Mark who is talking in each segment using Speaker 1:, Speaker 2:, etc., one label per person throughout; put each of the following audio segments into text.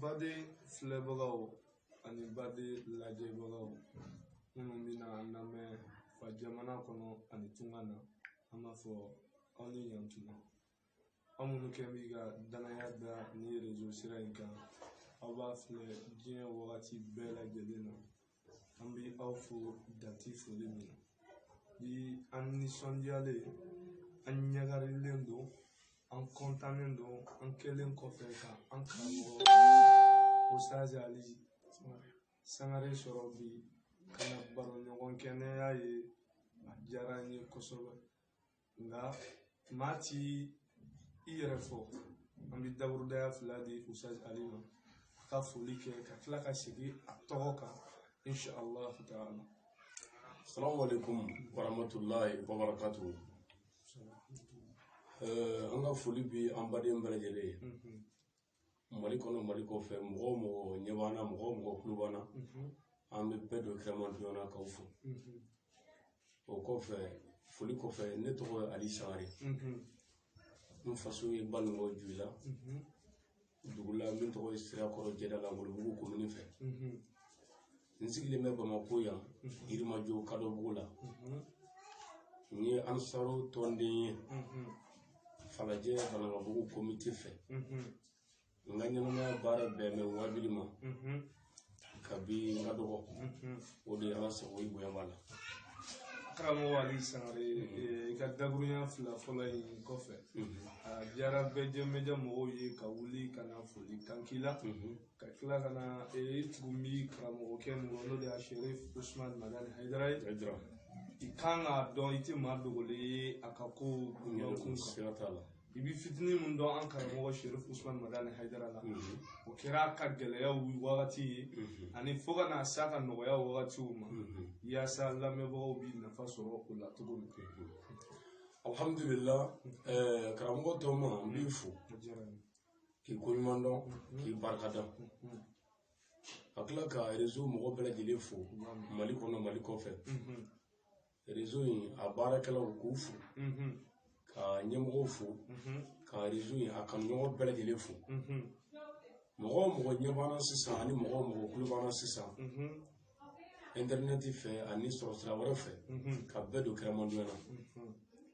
Speaker 1: baden filɛbagaw ani baden lajɛbagaw minnu bɛna an lamɛn fa jamana kɔnɔ ani tunga na an b'a fɔ aw ni ɲantuma aw minnu kɛ b'i ka dannaya da ni rezo sira in kan aw b'a filɛ diɲɛ wagati bɛɛ lajɛlen na an bɛ aw fo dan ti foli min na bi an nisɔndiyalen an ɲagarilen don an kɔntannen don an kɛlen kɔfɛ ka an karamɔgɔ usaz ali sangare sɔrɔ bi ka na baroɲɔgɔn kɛ ni a ye a diyara n ye kosɛbɛ nka maa ti i yɛrɛ fɔ an bɛ daburudaya fila di usaz ali ma a ka foli kɛ ka tila ka segin a tɔgɔ kan insha allah ta'ala salamu
Speaker 2: alaikum warahmatullahi wabarakatuhu an ka foli bi an baden bɛɛ lajɛlen ye mali kɔnɔ mali kɔfɛ mɔgɔ o mɔgɔ ɲɛ b'an na mɔgɔ o mɔgɔ kulo b'an na an bɛ bɛɛ don kɛrɛmadonya na k'aw fo o kɔfɛ foli kɔfɛ ne tɔgɔ ye ali sangare n faso ye banikɔ joyila dugu la min tɔgɔ ye sirakɔrɔ jɛdala wolobugu komini fɛ n sigilen bɛ bamako yan yirimajɔ kadɔbugu la n ye ansaru tɔnden ye falajɛ banankabugu komite fɛ n ka ɲɛnamaya baara bɛnnen bɛ wabili ma kabi n ka dɔgɔ o de y'an sago i bonya b'a
Speaker 1: la karamɔgɔ ali sangare i ka daburunya fila fɔlɔ in kɔfɛ a diyara bɛɛ jɛmɛjɛ mɔgɔw ye ka wuli ka na foli kan k'i la ka tila ka na ee tugun bi karamɔgɔkɛ mɔgɔ n'o de y'a sherif usman madani hayidara ye, i kan k'a dɔn i tɛ maa dogolen ye a ka ko bonya kun kan siga t'a la. i bɛ fitinin min dɔn an karamɔgɔ sherif usman madani hayidara la o kɛra a ka gɛlɛyaw wagati ye ani fo ka na s'a ka nɔgɔya wagatiw ma yaasa lamɛnbagaw bɛ nafa sɔrɔ o la cogo min Alhamdulillah,
Speaker 2: ɛɛ, karamɔgɔ tɔgɔma, n b'i fo. o diyara n ye k'i koɲuman dɔn k'i barika da ka tila ka rezo mɔgɔ bɛɛ lajɛlen fo mali kɔnɔ mali kɔfɛ rezo in a baarakɛlaw k'u fo ka ɲɛmɔgɔw fo ka rezo in a kanuɲɔgɔn bɛɛ lajɛlen fo mɔgɔ o mɔgɔ ɲɛ b'an na sisan ani mɔgɔ o mɔgɔ kulo b'an na sisan intɛrinɛti fɛ ani sɔrɔsira wɛrɛ fɛ ka bɛɛ don kɛrɛmadonya na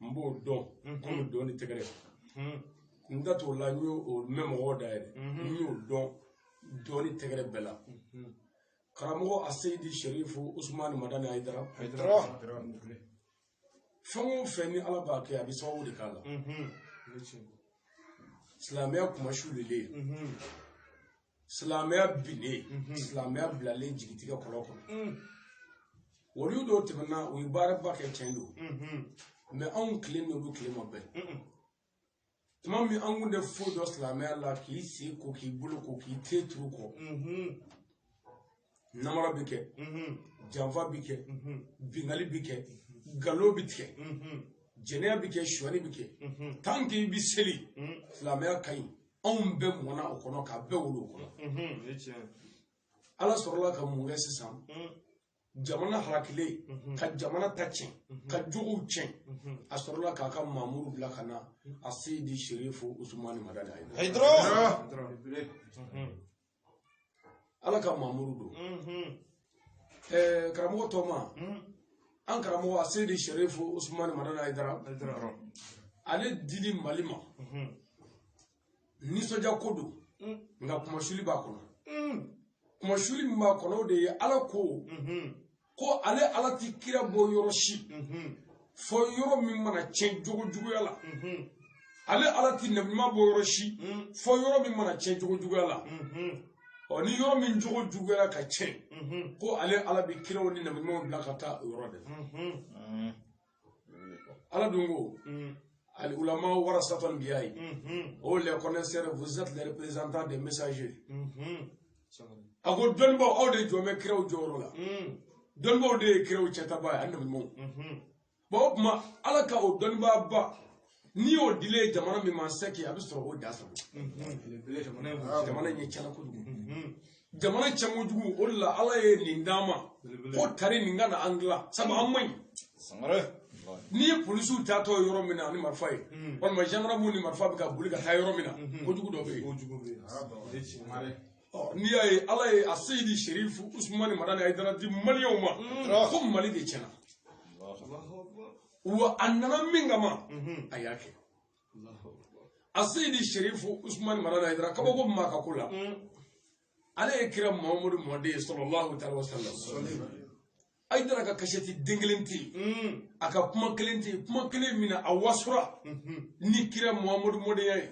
Speaker 2: n b'o dɔn komi dɔn ni tɛgɛrɛ n da t'o la n y'o mɛn mɔgɔw da yɛrɛ n y'o dɔn dɔn ni tɛgɛrɛ bɛɛ la karamɔgɔ aseyidi sherifu usumani madani ayidara fɛn o fɛn ni ala b'a kɛ a bɛ sababu de k'a la silamɛya kunmasulilen silamɛya binnen silamɛya bilalen jigitigɛ kɔlɔn kɔnɔ waliw dɔw tɛmɛna u ye baaraba kɛ tiɲɛ don mɛ anw tile n'olu tile ma bɛn tuma min an kun tɛ foyi dɔn silamɛya la k'i sen ko k'i bolo ko k'i ten turu kɔ namara bɛ kɛ janfa bɛ kɛ bingali bɛ kɛ nkalon bɛ tigɛ jɛnɛya bɛ kɛ sonyani bɛ kɛ tan k'i bɛ seli silamɛya ka ɲi anw bɛɛ mɔna o kɔnɔ k'an bɛɛ wolo o kɔnɔ ala sɔrɔla ka mun kɛ sisan jamana harakilen ka jamana ta tiɲɛ ka jogow tiɲɛ a sɔrɔla k'a ka mamuru bila ka na aseyidi sherifu usumani madani ayidara ala ka mamuru don ɛɛ karamɔgɔ tɔma an karamɔgɔ aseyidi sherifu usumani madani ayidara ale dili mali ma nisɔndiya ko don nka kunmasuli b'a kɔnɔ kunmasuli min b'a kɔnɔ o de ye ala ko ko ale ala tɛ kira bɔ yɔrɔ si fo yɔrɔ min mana tiɲɛ jogo juguya la ale ala tɛ nabiɲuman bɔ yɔrɔ si fo yɔrɔ min mana tiɲɛ jogo juguya la ɔ ni yɔrɔ min jogo juguyara ka tiɲɛ ko ale ala bɛ kiraw ni nabiɲumanw bila ka taa o yɔrɔ de la ala dun ko ali ulama warasatul anbiyayi o les connaisseurs vous êtes les représentants des messagers a ko dɔnnibaw aw de jɔlen bɛ kiraw jɔyɔrɔ la dɔnnibaw de ye kiraw cɛntaba ye ani nabiɲumanw bon o tuma ala ka o dɔnnibaaba n'i y'o dilen ye jamana min ma c'est que a bɛ sɔrɔ o dansagon jamana in ye tiɲɛna kojugu jamana tiɲɛ kojugu o de la ala ye nin d'an ma ko tari nin ka na an dilan sabu an man ɲi n'i ye polisiw taatɔ ye yɔrɔ min na ni marifa ye walima jandamu ni marifa bɛ ka boli ka taa yɔrɔ min na kojugu dɔ bɛ yen n'i y'a ye ala ye aseyidi sherifu usumani madani ayidara di maliyɛnw ma ko mali de tiɲɛna wa a nana min kama a y'a kɛ aseyidi sherifu usumani madani ayidara kabako min b'a ka ko la ale ye kira mahamadu mɔden ye salalahu alayihi wasalam ayidara ka kasɛti den kelen tɛ yen a ka kuma kelen tɛ yen kuma kelen min na a wasura ni kira mahamadu mɔdenya ye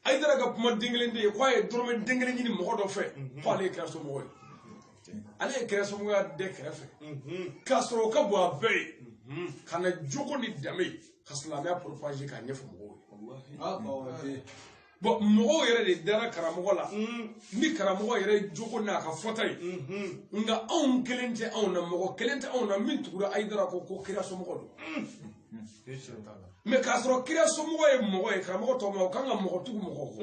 Speaker 2: ayidara ka kuma den kelen tɛ yen k'a ye dɔrɔmɛ den kelen ɲini mɔgɔ dɔ fɛ ko ale ye kira somɔgɔ ye ale ye kira somɔgɔya da kɛrɛfɛ k'a sɔrɔ o ka bon a bɛɛ ye ka na jogo ni danbe ka silamɛya poropaze k'a ɲɛfɔ mɔgɔw ye bɔn mɔgɔw yɛrɛ de dara karamɔgɔ la ni karamɔgɔ yɛrɛ jogo n'a ka fɔta ye nka anw kelen tɛ anw na mɔgɔ kelen tɛ anw na min tugura ayidara kɔ ko kira somɔgɔ don mɛ k'a sɔrɔ kira somɔgɔ ye mɔgɔ ye karamɔgɔ tɔ ma o kan ka mɔgɔ tugu mɔgɔ kɔ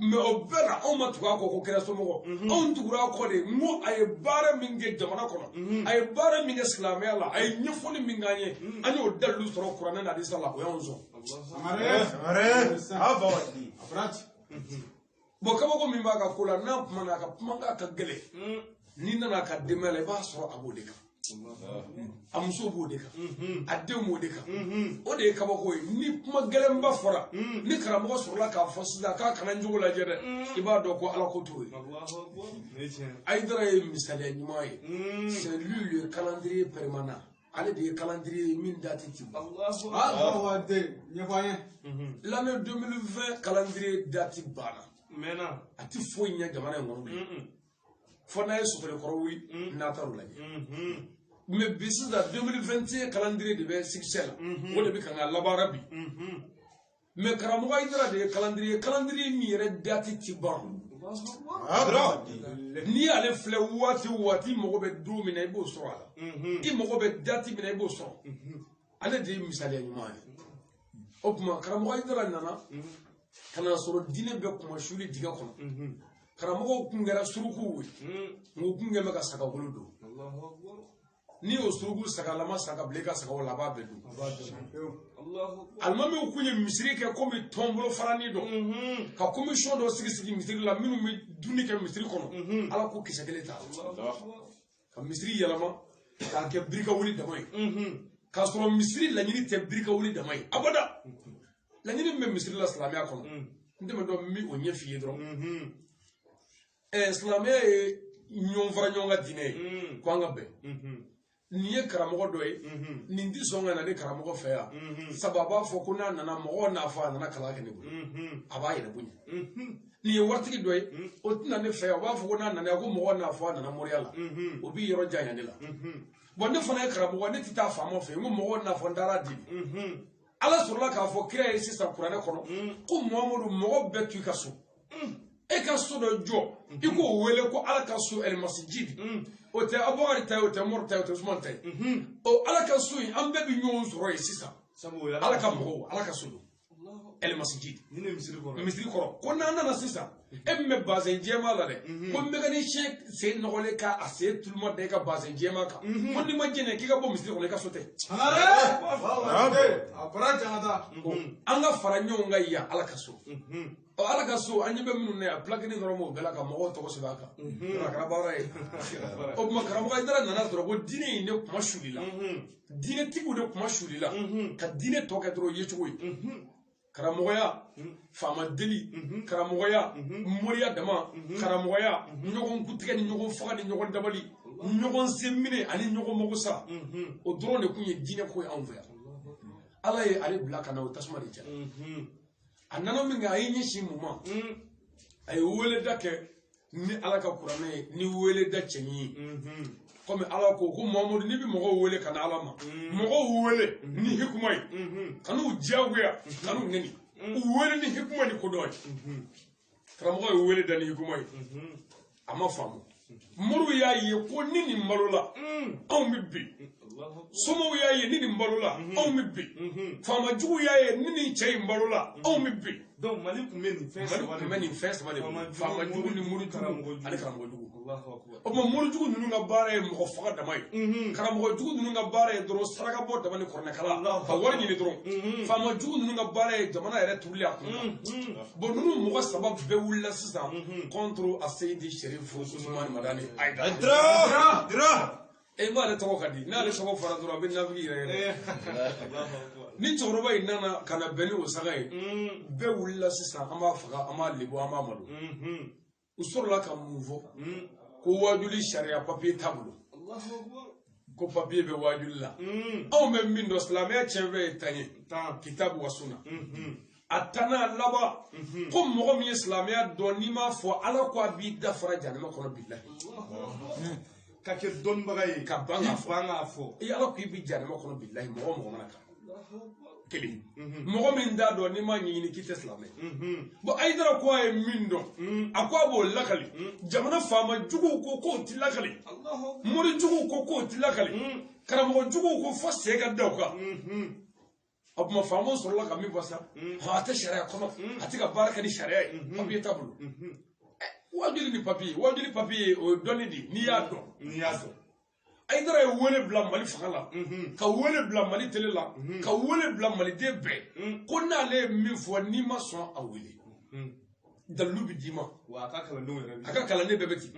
Speaker 2: mɛ o bɛɛ la anw ma tugu a kɔ ko kira somɔgɔ anw tugura a kɔ de n ko a ye baara min kɛ jamana kɔnɔ a ye baara min kɛ silamɛya la a ye ɲɛfɔli min k'an ye an y'o dalilu sɔrɔ kuranɛ na hadisa la o y'anw sɔn bɔn kabako min b'a ka ko la n'a kumana a ka kumakan ka gɛlɛn n'i nana a ka denbaya la i b'a sɔrɔ a b'o de kan a muso b'o de kan a denw b'o de kan o de ye kabako ye ni kuma gɛlɛnba fɔra ni karamɔgɔ sɔrɔla k'a fɔ sisan k'a kana n jogo lajɛ dɛ i b'a dɔn ko ala ko t'o ye ayidara ye misaliya ɲuman ye c'est lui le calendrier permanent ale de ye kalandiri ye min dati ti ban l'année 2020 kalandiri dati banna mɛnna a ti foyi ɲɛ jamana in kɔnɔ bilen fo n'a ye sotore kɔrɔ wuli n'a taara o lajɛ mɛ bi sisan 2021 kalandiri de bɛ sikisɛ la o de bɛ kan ka labaara bi mɛ karamɔgɔ ayidara de ye kalandiri ye kalandiri min yɛrɛ dati ti ban n'i y'ale filɛ waati o waati i mago bɛ don min na i b'o sɔrɔ a la mhm. i mago bɛ dati min na i b'o sɔrɔ mhm. ale de ye misaliya ɲuman ye o tuma karamɔgɔ ayidara nana mhm. ka n'a sɔrɔ diinɛ bɛ kuma suli dingɛ kɔnɔ karamɔgɔw kun kɛra surukuw ye nka u kun kɛ bɛ ka sagagolo don n'i y'o suruku sagalama saga bilen ka sagaw la a b'a bɛɛ dun alimamiw kun ye misiri kɛ komi tɔn bolofaranin dɔ mhm. ka komisiyɔn dɔ sigi sigi misiri la minnu bɛ dumuni kɛ misiri kɔnɔ mhm. ala ko kisɛ kelen t'a la ka misiri yɛlɛma k'a kɛ biri ka wuli dama ye mhm. k'a sɔrɔ misiri laɲini tɛ biri ka wuli dama ye abada laɲini min bɛ misiri la silamɛya kɔnɔ n tɛmɛtɔ n bɛ o ɲɛf'i ye dɔrɔn ɛɛ silamɛya ye ɲɔgɔn fara ɲɔgɔn kan diinɛ ye mm. ko an ka bɛn mm-hmm. nin ye karamɔgɔ dɔ ye mm-hmm. nin tɛ sɔn ka na ne karamɔgɔ fɛ yan mm-hmm. sabu a b'a fɔ ko n'a nana mɔgɔw n'a fɔ a nana kalan kɛ ne bolo a b'a yɛrɛ bonya nin ye waritigi dɔ ye mm. o tɛ na ne fɛ yan o b'a fɔ ko n'a nana ko mɔgɔw n'a fɔ a nana moriya la o b'i yɔrɔ janya ne la bɔn ne fana ye karamɔgɔ ne tɛ taa faama fɛ yen ko mɔgɔw n'a fɔ n taara di ala sɔrɔla k'a fɔ kira ye sisan kuranɛ kɔnɔ ko mamadu mɔgɔ bɛɛ to i ka so e ka so dɔ jɔ i k'o wele ko ala ka so ɛlɛmasijidi o tɛ abubakari ta ye o tɛ mɔri ta ye o tɛ usumani ta ye ɔ ala ka so in an bɛɛ bɛ ɲɔgɔn sɔrɔ yen sisan ala ka mɔgɔw ala ka so don ɛlɛmasijidi misiri kɔrɔ ko n'an nana sisan e min bɛ bazɛn jɛma la dɛ ko mekanisiyɛn sen nɔgɔlen ka a sen tuluma da i ka bazɛn jɛma kan ko n'i ma jɛnɛ k'i ka bɔ misiri kɔnɔ i ka so tɛ an ka fara ɲɔgɔn kan yan ala ka so ɔ ala ka so an ɲɛ bɛ minnu na yan pilakini dɔrɔn b'o bɛɛ la ka mɔgɔw tɔgɔ sɛbɛn a kan a kɛra baara ye o tuma karamɔgɔ ayidara nana sɔrɔ ko diinɛ in de kunmasuulila diinɛtigiw de kunmasuulila ka diinɛ tɔ kɛ dɔrɔn yecogo ye karamɔgɔya faama deli karamɔgɔya moriya dama karamɔgɔya ɲɔgɔn kuntigɛ ni ɲɔgɔn faga ni ɲɔgɔn dabali ɲɔgɔn senminɛ ani ɲɔgɔn mago sa o dɔrɔn de tun ye diinɛ ko ye anw fɛ yan ala ye ale bila ka na o tasuma de cɛ a nana min kɛ a y'i ɲɛsin mun ma a ye weleda kɛ ni ala ka kuranɛ ye ni weleda cɛɲi ye kɔmi ala ko ko mamadu n'i bɛ mɔgɔw wele ka na ala ma mɔgɔw wele ni hikuma ye kan'u diyagoya kan'u neni u wele ni hikuma ni kodɔn ye karamɔgɔ ye wele da ni hikuma ye a ma faamu moriw y'a ye ko ni nin balola anw bɛ bin somaw y'a ye ni nin balola anw bɛ bin faamajugu y'a ye ni nin cɛ in balola anw bɛ bin donc mali tun bɛ nin fɛn
Speaker 1: saba de mali tun bɛ nin fɛn saba de
Speaker 2: faamajugu ni morijugu ani karamɔgɔjugu o tuma morijugu ninnu ka baara ye mɔgɔ faga dama ye mhm. karamɔgɔ jugu ninnu ka baara ye dɔrɔn saraka bɔ dama ni kɔrɔnɛkala ka wari ɲini dɔrɔn mhm. faama jugu ninnu ka baara ye jamana yɛrɛ turuli a kun mhm. bon ninnu mɔgɔ saba bɛɛ wulila sisan kɔntoro aseyidi sɛrifu usumani madani ayidara dira dira e b'ale tɔgɔ ka di n'ale tɔgɔ fɔra dɔrɔn a bɛ nafigi yɛrɛyɛrɛ eh. ni cɛkɔrɔba in nana ka na bɛn ni o saba ye bɛɛ wulila sisan an b'a faga an b'a lebu an b'a malo u sɔrɔla ka mun fɔ ko wajuli sariya papiye t'a bolo ko papiye bɛ wajuli la anw bɛ min dɔn silamɛya tiɲɛfɛn ye tan ye kitabu wa sunna a tanna laban ko mɔgɔ min ye silamɛya dɔn n'i m'a fɔ ala ko a b'i dafara janama kɔnɔ bilahi ka
Speaker 1: kɛ dɔnnibaga ye ka ban k'a fɔ an
Speaker 2: k'a fɔ i
Speaker 1: ala
Speaker 2: ko
Speaker 1: i bɛ
Speaker 2: janama kɔnɔ bilahi mɔgɔ mɔgɔ mana kan kelen mɔgɔ min t'a dɔn n'i m'a ɲɛɲini k'i tɛ silamɛ bon ayidara ko a ye min dɔn a ko a b'o lakali jamana faama juguw ko k'o ti lakali mori juguw ko k'o ti lakali karamɔgɔ juguw ko fo sen ka da o kan o tuma faamaw sɔrɔla ka min fɔ sa a tɛ sariya kɔnɔ a tɛ ka baara kɛ ni sariya ye papiye t'a bolo wajuli ni papiye wajuli papiye o ye dɔnni de ye n'i y'a dɔn n'i y'a dɔn ayidara ye wele bila mali fanga la ka wele bila mali tele la ka wele bila maliden bɛɛ ko n'ale ye min fɔ n'i ma sɔn a wele dalilu bɛ d'i ma wa a ka kalandenw yɛrɛ
Speaker 1: bɛ a ka kalanden bɛɛ
Speaker 2: bɛ ten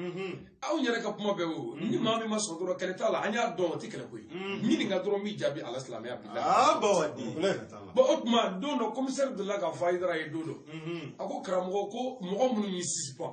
Speaker 2: aw yɛrɛ ka kuma bɛɛ bɛ o ni maa min ma sɔn dɔrɔn kɛlɛ t'a la an y'a dɔn o tɛ kɛlɛ ko ye ɲininka dɔrɔn n b'i jaabi ala silamɛya bila aa bawa di bon o tuma don dɔ komisɛri delila k'a fɔ ayidara ye don dɔ a ko karamɔgɔ ko mɔgɔ minnu y'i sisipan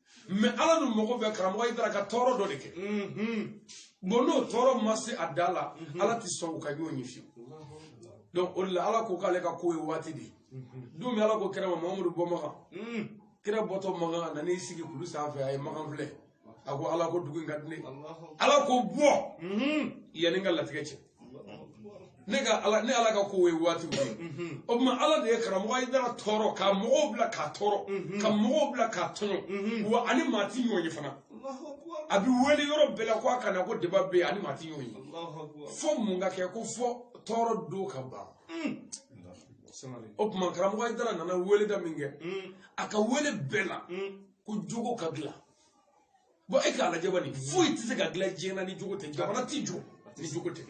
Speaker 2: mɛ ala dun mago bɛ karamɔgɔ ayidara ka tɔɔrɔ dɔ de kɛ bon n'o tɔɔrɔ ma se a dan na ala tɛ sɔn u ka ɲɔgɔn ye fiyewu donc o de la ala ko k'ale ka ko ye waati de ye don min ala ko kira ma mamadu bɔ makan kira bɔtɔ makan a nan'i sigi kulu sanfɛ a ye makan filɛ a ko ala ko dugu in ka di ne ye ala ko bɔ yanni n ka latigɛ cɛ ne ka ala ne ala ka ko ye waati ye mhm. o tuma ala de ye karamɔgɔ ayidara tɔɔrɔ ka mɔgɔw bila k'a tɔɔrɔ mhm. ka mɔgɔw bila k'a tɔɲɔ mhm. wa a ni maa ti ɲɔgɔn ye fana a bɛ wele yɔrɔ bɛɛ la ko a ka na ko deba bɛ yen a ni maa ti ɲɔgɔn ye fo mun ka kɛ ko fo tɔɔrɔ don ka ban mm. o tuma karamɔgɔ ayidara nana wele da min kɛ mm. a ka wele bɛɛ la mm. ko jogo ka dilan bɔn e k'a lajɛ bani foyi tɛ se ka dilan diɲɛ na ni jogo tɛ jamana tɛ jɔ ni jogo tɛ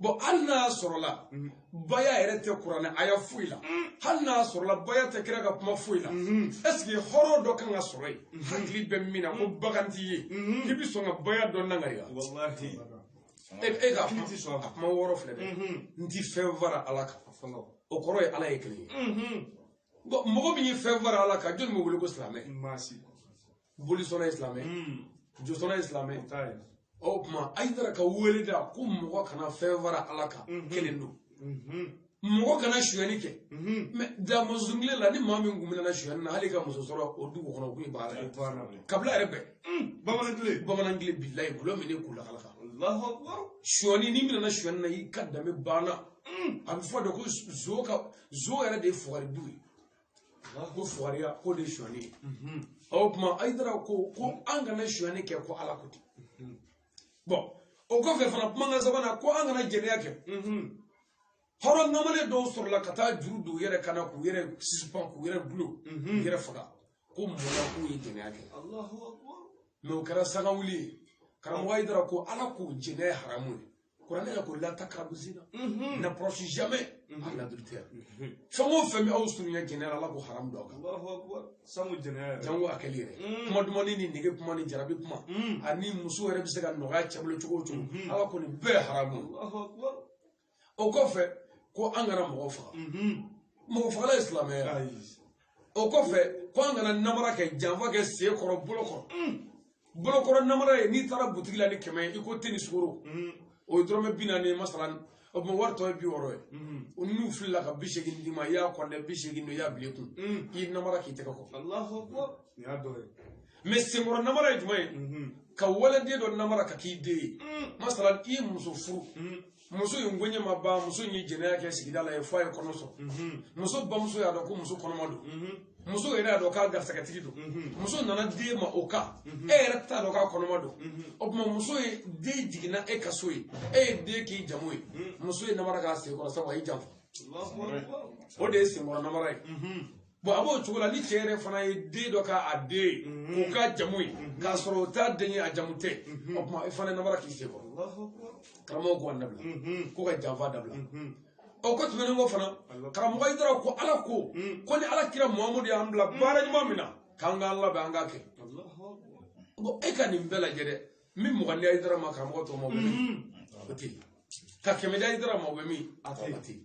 Speaker 2: bɔn hali n'a sɔrɔla baya yɛrɛ tɛ kuranɛ aya foyi la hali n'a sɔrɔla baya tɛ kira ka kuma foyi la ɛseke hɔrɔn dɔ kan ka sɔrɔ yen hakili bɛ min na ko bagan t'i ye k'i bɛ sɔn ka baya dɔ nangariya e e ka kuma a kuma wɔɔrɔ filɛ dɛ n ti fɛn fara ala kan o kɔrɔ ye ala ye kelen ye Bon, mɔgɔ min ye fɛn fara ala kan jɔni bɛ wele ko silamɛ maa si bolisɔnna ye silamɛ josɔnna ye silamɛ o t'a ye o tuma ayidara ka wele da ko mɔgɔ kana fɛn fara ala kan Mhm. kelen don mɔgɔ kana suyɛni kɛ mɛ da mɔnzɔn kile la ni maa min kun minɛna suyɛni na hali ka muso sɔrɔ o dugu kɔnɔ o kun ye baara ye baara la kabila yɛrɛ bɛɛ bamanan tile bamanan kile bilayi gulɔ min ne k'u lakala kan alahu akubaru suyɛni n'i minɛna suyɛni na i ka danbe banna a bɛ fɔ de ko zo ka zo yɛrɛ de ye fugari du ye ko fugariya k'o de ye sonyali ye o tuma ayidara ko ko an kana sonyali kɛ ko ala ko ten bɔn o kɔfɛ fana kumakan sabanan ko an kana jɛnɛya kɛ hɔrɔn kamalen dɔw sɔrɔla ka taa juru don u yɛrɛ kan na k'u yɛrɛ sisipan k'u yɛrɛ dulon k'u yɛrɛ faga ko mun na k'u ye jɛnɛya kɛ mɛ o kɛra sangawuli ye karamɔgɔ ayidara ko ala ko jɛnɛya haramu ye kuranɛ yɛrɛ ko la takarabu zina mhm. n'approche jamais mhm. à l'adultère mhm. fɛn o fɛn bɛ aw surunya jɛnɛya la ala ko haramu don a kan sanu jɛnɛya jango a kɛli yɛrɛ kuma dumani ni nege kuma ni jarabi kuma ani muso yɛrɛ bɛ se ka nɔgɔya cɛ bolo cogo o cogo ala ko nin bɛɛ haramu o kɔfɛ ko an kana mɔgɔ faga mɔgɔ fagala ye silamɛ ye o kɔfɛ ko an kana namara kɛ janfa kɛ sen kɔrɔ bolo kɔrɔ bolokɔrɔ namara ye n'i taara butigi la ni kɛmɛ ye i ko te ni sukoro o ye dɔrɔmɛ bi naani ye masalan o tuma wari tɔ ye bi wɔɔrɔ ye o n'u filila ka bi seegin d'i ma i y'a kɔnte bi seegin don i y'a bila i kun i ye namara k'i tɛgɛ kɔ mais senkɔrɔ namara ye jumɛn ye ka waliden dɔ namara k'a k'i den ye masalan i muso furu muso in koɲɛ ma ban muso in ye jɛnɛya kɛ sigida la yen fo a ye kɔnɔ sɔrɔ mhm. muso bamuso y'a dɔn ko muso kɔnɔma don mhm. muso yɛrɛ y'a dɔn k'a garisɛgɛtigi don mhm. muso nana d'e ma o kan e yɛrɛ t'a dɔn k'a kɔnɔma don o tuma muso ye den jigin e ka so yen e ye den k'i jamu ye muso ye namara k'a senkɔrɔ sabu a y'i janfa o de ye senkɔrɔ namara ye bon a b'o cogo la ni cɛ yɛrɛ fana ye den dɔ k'a den ye k'o k'a jamu ye k'a sɔrɔ o t'a den ye a jamu tɛ o tuma e fana ye namara k'i sen kɔrɔ karamɔgɔ ko a dabila ko ka janfa dabila o ko tɛmɛnen kɔ fana karamɔgɔ hayidara ko ala ko ko ni ala kira muhamadu y'an bila baara ɲuman min na k'an k'an labɛn an k'a kɛ ko e ka nin bɛɛ lajɛ dɛ min mugan di hayidara ma karamɔgɔ tɔgɔ ma o bɛ min o tɛ yen ka kɛmɛ di hayidara ma o bɛ min a tɔgɔ ma tɛ yen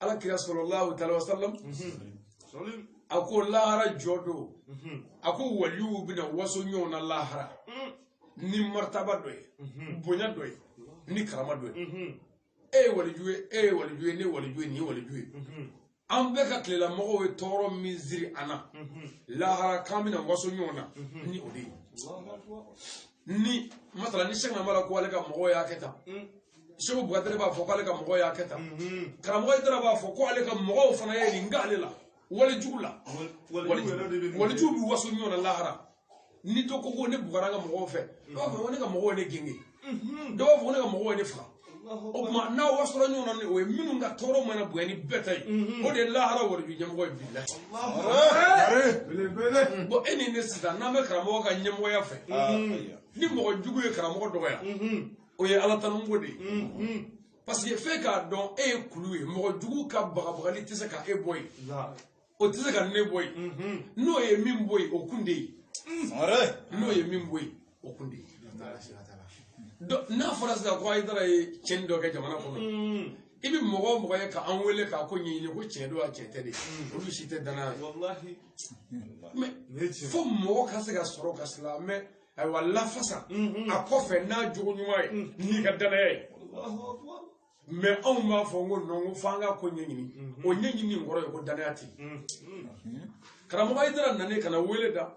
Speaker 2: ala kira salalahu taala wasalam a ko lahara jɔ don a ko waliw bɛna waso ɲɔgɔn na lahara ni martaba dɔ ye bonya dɔ ye ni karama dɔ ye e ye waliju ye e ye waliju ye ne ye waliju ye nin ye waliju ye an bɛɛ ka tilelamɔgɔw ye tɔɔrɔ min siri an na lahara k'an bɛna waso ɲɔgɔn na ni o de ye ni masalan ni sɛki amala ko ale ka mɔgɔw y'a kɛ tan seku bukadari b'a fɔ k'ale ka mɔgɔw y'a kɛ tan karamɔgɔ hayidara b'a fɔ ko ale ka mɔgɔw fana ye nin k'ale la walijuw la walijuw bɛ waso ɲɔgɔn na lahara ni dɔ ko ko ne bugɔra n ka mɔgɔw fɛ dɔw b'a fɔ ko ne ka mɔgɔw ye ne gengen dɔw b'a fɔ ko ne ka mɔgɔw ye ne faga o tuma n'aw wasora ɲɔgɔn na ni o ye minnu ka tɔɔrɔ mana bonya ni bɛɛ ta ye o de ye lahara waliju ɲɛmɔgɔ ye bilahi bon e ni ne sisan n'an bɛ karamɔgɔ ka ɲɛmɔgɔya fɛ ni mɔgɔ jugu ye karamɔgɔ dɔgɔya o ye ala tanu ko de ye mm-hmm. parce que f'e k'a dɔn e ye kulu ye mɔgɔ jugu ka bagabagali tɛ se ka e bɔ yen o tɛ se ka ne bɔ yen mm-hmm. n'o ye min bɔ yen o kun de ye n'o ye min bɔ yen o kun de ye n'a fɔra sisan ko hayidara ye cɛnni dɔ kɛ jamana kɔnɔ mm. i bɛ mɔgɔ o mɔgɔ ye k'an wele k'a ko ɲɛɲini ko tiɲɛ don wa tiɲɛ tɛ de mm. olu si tɛ danaya ye fo mɔgɔ ka se ka sɔrɔ ka silamɛ ayiwa lafasa a kɔfɛ n'a jogo ɲuman ye n'i ka danaya ye mais anw b'a fɔ ko non ko f'an ka ko ɲɛɲini o ɲɛɲini in kɔrɔ ye ko danaya tɛ karamɔgɔ hayidara nanen ka na wele da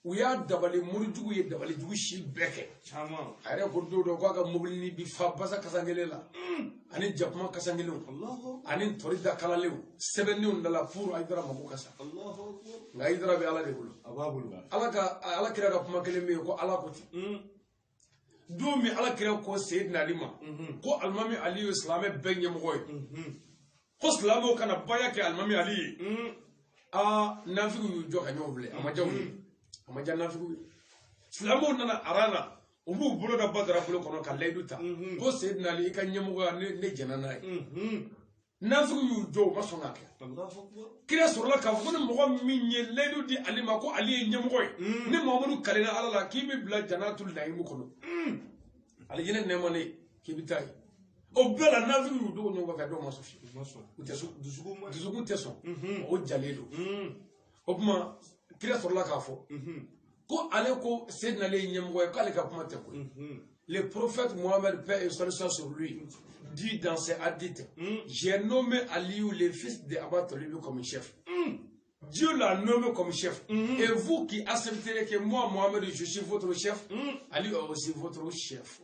Speaker 2: u y'a dabali morijuguw ye dabalijugu si bɛɛ kɛ a yɛrɛ ko don dɔ k'a ka mobili bi fa basa kasankelen la ani jakuma kasankelenw ani tɔri da kalalenw sɛbɛnniw dala pour ayidara mako ka sa nka ayidara bɛ ala de bolo ala ka ala kira ka kuma kelen bɛ yen ko ala ko ten hmm. don min ala kira ko seyidina ali ma mhm. ko alimami ali ye silamɛ bɛɛ ɲɛmɔgɔ ye mhm. ko silamɛw ka na baya kɛ alimami ali ye hmm. aa nafigiw y'u jɔ ka ɲɔgɔn filɛ a ma diya u ye hmm. a ma diya nafigiw ye silamɛw nana aran na u b'u bolo da badara bolo kɔnɔ ka layidu ta ko seydina ali i ka ɲɛmɔgɔya ne ne jɛnna n'a ye nafigiw y'u jɔ u ma sɔn k'a kɛ kira sɔrɔla k'a fɔ ko ni mɔgɔ min ye layidu di ali ma ko ali ye ɲɛmɔgɔ ye ne mamadu kalenna ala la k'i bɛ bila janatu nayimu kɔnɔ alijinɛ nɛɛma ne k'i bɛ taa yen o bɛɛ la nafigiw y'u dogo ɲɔgɔn kɔfɛ dɔw ma sɔn fiyewu u tɛ sɔn dusukun tɛ sɔn o jalen don o tuma kira sɔrɔla k'a fɔ ko ale ko seydina ali ye ɲɛmɔgɔ ye k'ale ka kuma tɛ koyi le prophète Mohamed paix et salut soit sur lui dit dans ses hadiths j'ai nommé Aliou le fils de Aba Talib comme chef Dieu l'a nommé comme chef. Mm -hmm. Et vous qui accepterez que moi, Mohamed, je suis votre chef, mm -hmm. Ali est aussi votre chef.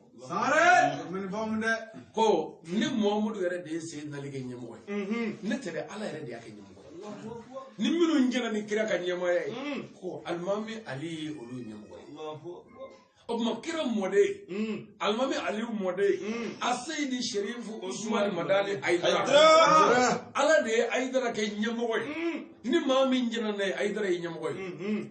Speaker 2: ko ne mamadu yɛrɛ de ye seydina ali kɛ ɲɛmɔgɔ ye ne tɛ ala yɛrɛ de y'a kɛ ɲɛmɔgɔ ye ni minnu jɛnna ni kira ka ɲɛmɔgɔya ye ko alimami ali ye olu ɲɛmɔgɔ ye o tuma kira mɔden alimami aliyu mɔden aseyidi sherifu usumani madani ayidara ala de ye ayidara kɛ ɲɛmɔgɔ ye ni maa min jɛnna n'a ye ayidara ye ɲɛmɔgɔ ye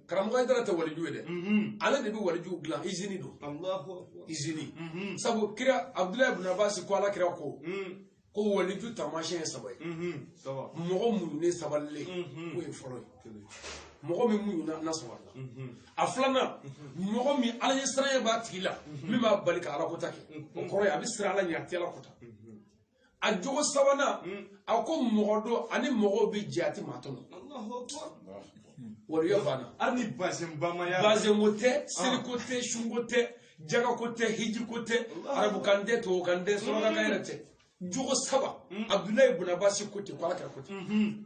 Speaker 2: karamɔgɔ ayidara tɛ waliju ye dɛ mhm. ale de bɛ waliju dilan izini don izini mhm. sabu kira abudulayi ibn abasi ko ala kira ko mhm. ko waliju taamasiyɛn ye saba ye mɔgɔ muɲunen sabalilen k'o ye fɔlɔ ye mɔgɔ min muɲuna n'a sabalila a filanan mɔgɔ min ala ɲɛsiranya b'a tigi la min b'a bali ka alakota kɛ o kɔrɔ ye a bɛ siran ala ɲɛ a tɛ alakota a jogo sabanan a ko mɔgɔ dɔ a ni mɔgɔw bɛ jɛ a tɛ maa tɔɲɔ waliya banna hali ni basenbamaya bazɛnko tɛ seriko tɛ sunko tɛ jagako tɛ hijiko tɛ arabukan tɛ tubabukan tɛ surakakan yɛrɛ tɛ jogo saba abudulayi bun abasi ko ten ko ala kira ko ten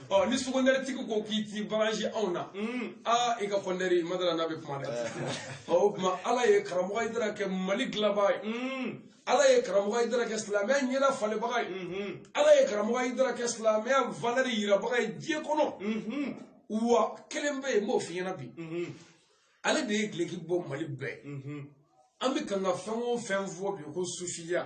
Speaker 2: ɔ ni sukondɛri tigi ko k'i tɛ baransi anw na aa i ka kɔndɛri madara n'a bɛ kuma dɛ ɔ o tuma ala ye karamɔgɔ ayidara kɛ mali dilanbaa ye ala ye karamɔgɔ ayidara kɛ silamɛya ɲɛda falenbaga ye ala ye karamɔgɔ ayidara kɛ silamɛya valeur yirabaga ye diɲɛ kɔnɔ wa kelen bɛ yen n b'o f'i ɲɛna bi ale de ye gileki bɔ mali bɛɛ an bɛ kan ka fɛn o fɛn fɔ bi ko sufiya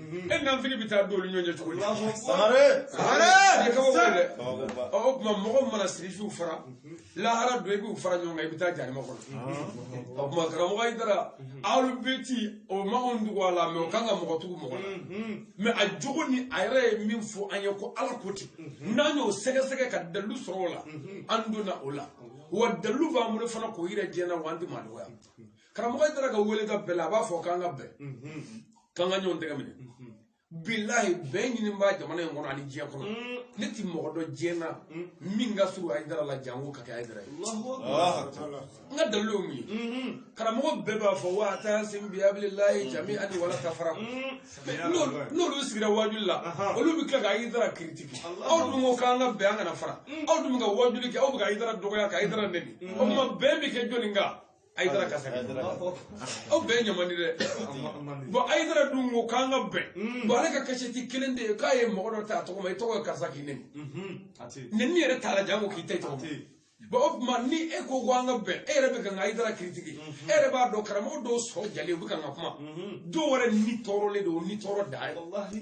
Speaker 2: e naafigi bɛ taa don olu ɲɔgɔn cɛ cogo di sangare sangare nin kabako dɛ ɔ o tuma mɔgɔ mana sirifiw fara lahara don i b'u fara ɲɔgɔn kan i bɛ taa jahanama kɔnɔ o tuma karamɔgɔ ayidara alubɛti o ma anw tugu a la mais o kan ka mɔgɔ tugu mɔgɔ la mais a jogo ni a yɛrɛ ye min fɔ an ye ko ala ko ten n'an y'o sɛgɛsɛgɛ ka dalilu sɔrɔ o la an donna o la wa dalilu b'an bolo fana k'o yira diɲɛ na wa an tɛ maa dɔgɔya karamɔgɔ ayidara ka wele ka bɛɛ la a b'a fɔ k'an ka bɛn k'an ka ɲɔgɔn tɛgɛ minɛ bilahi bɛn ɲinibaa jamana in kɔnɔ ani diɲɛ kɔnɔ ne ti mɔgɔ dɔn diɲɛ na min ka surun ayidara la janko ka kɛ ayidara ye n ka dalilu ye mun ye karamɔgɔ bɛɛ b'a fɔ wa tasimu bihabililayi jamian wala tafaraku n'olu sigira wajuli la olu bɛ tila ka ayidara critiquer aw dun ko k'an ka bɛn an kana fara aw dun bɛ ka wajuli kɛ aw bɛ ka ayidara dɔgɔya ka ayidara nɛni o tuma bɛn bɛ kɛ jɔni kan ayidara kan sa kɛ aw bɛɛ ɲama di dɛ bon ayidara dun ko k'an ka bɛn bon ale ka kasɛti kelen tɛ yen k'a ye mɔgɔ dɔ ta a tɔgɔ ma i tɔgɔ ye karisa k'i nɛni nɛni yɛrɛ t'a la janko k'i ta i tɔgɔ ma bon o tuma ni e ko ko an ka bɛn e yɛrɛ bɛ kan ka ayidara critiquer e yɛrɛ b'a dɔn karamɔgɔ dɔw sɔn jalen u bɛ kan ka kuma dɔw wɛrɛ ni tɔɔrɔlen don ni tɔɔrɔ dan ye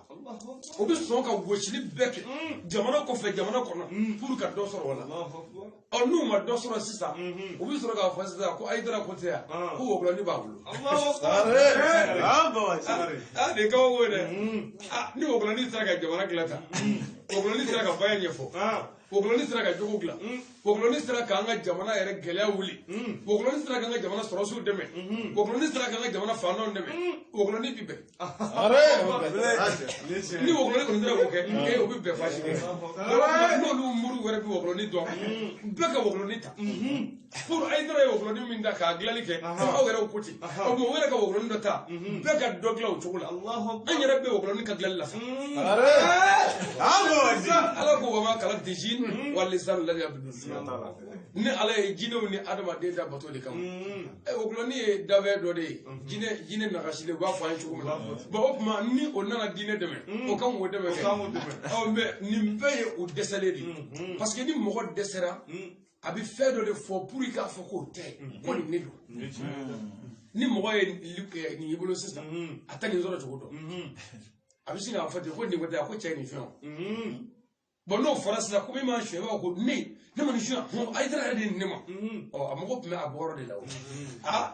Speaker 2: o bɛ sɔn ka gosili bɛɛ kɛ jamana kɔfɛ jamana kɔnɔ pour ka dɔ sɔrɔ o la ɔ n'u ma dɔ sɔrɔ sisan u bɛ sɔrɔ k'a fɔ sisan ko ayidara ko tɛ yan ko wɔkulɔni b'a bolo nin kabako dɛ ni wɔkulɔni sera ka jamana dilan tan wɔkulɔni sera ka baya ɲɛfɔ wɔkulɔni
Speaker 3: sera ka jogo dilan wɔkulɔni sera k'an ka jamana yɛrɛ gɛlɛya wuli wɔkulɔni sera k'an ka jamana sɔrɔdasiw dɛmɛ wɔkulɔni sera k'an ka jamana faantanw dɛmɛ wɔkulɔni bi bɛn ni wɔkulɔni kɔni sera k'o kɛ ee o bɛ bɛn baasi tɛ n'olu mori wɛrɛ bɛ wɔkulɔni dɔn bɛɛ ka wɔkulɔni ta pour Ayidara ye wɔkulɔni min ta k'a dilanni kɛ aw yɛrɛw ko ten o tuma u yɛrɛ ka wɔkulɔni dɔ ta bɛɛ ka dɔ dilan o cogo la an yɛrɛ bɛ wɔkulɔni ka dilanli la sa ala ko wa ma kalakitu jina wal insa ila liyabuduni ala ye jinɛw ni adamaden da bato de kama ɛ wɔkulɔni ye danfɛn dɔ de ye jinɛ jinɛ nagasilen u b'a fɔ an ye cogo min na bon o tuma ni o nana diinɛ dɛmɛ o kan k'o dɛmɛ kɛ ɔ mais nin bɛɛ ye u dɛsɛlen de ye parce que ni mɔgɔ dɛsɛra a bɛ fɛn dɔ de fɔ pour k'a fɔ k'o tɛ ko nin ne don ni mɔgɔ ye nin y'i bolo sisan a tɛ nin sɔrɔ cogo dɔn a bɛ sin k'a fɔ ten ko nin ko tɛ a ko cɛ ye nin fɛn o bon n'o fɔra sisan ko min m'a suɲɛ b'a fɔ ko ne ne ma nin suɲɛ ayidara yɛrɛ de ye nin ne ma ɔ a mago tun bɛ a bɔyɔrɔ de la o aa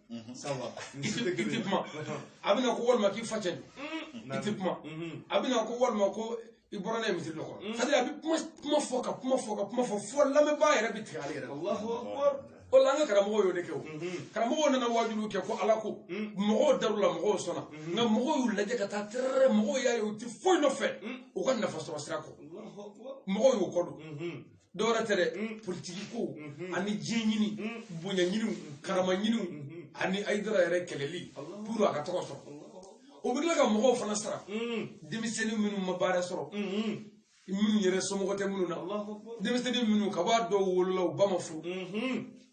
Speaker 3: ça va i tɛ i tɛ kuma a bɛna ko walima k'i fa cɛ don i tɛ kuma a bɛna ko walima ko i bɔra n'a ye misiri dɔ kɔnɔ c'est à dire a bɛ kuma kuma fɔ ka kuma fɔ ka kuma fɔ fo lamɛnbaa yɛrɛ bɛ tigɛ ale yɛrɛ la o la an ka karamɔgɔw y'o de kɛ o karamɔgɔw nana wajuliw kɛ ko ala ko mɔgɔw dar'u la mɔgɔw sɔnna nka mɔgɔw y'u lajɛ ka taa tɛrɛrɛ mɔgɔw y'a ye u tɛ foyi nɔfɛ u ka nafa sɔrɔ sira kɔ mɔgɔw y'u kɔ don dɔwɛrɛ tɛ dɛ politiki ko ani diɲɛ ɲini bonya ɲiniw karama ɲiniw ani ayidara yɛrɛ kɛlɛli pour a ka tɔgɔ sɔrɔ o bɛ tila ka mɔgɔw fana sara denmisɛnnin minnu ma baara sɔrɔ minnu yɛrɛ somɔgɔ tɛ minnu na denmisɛnnin minnu ka b'a dɔw wolola u ba ma furu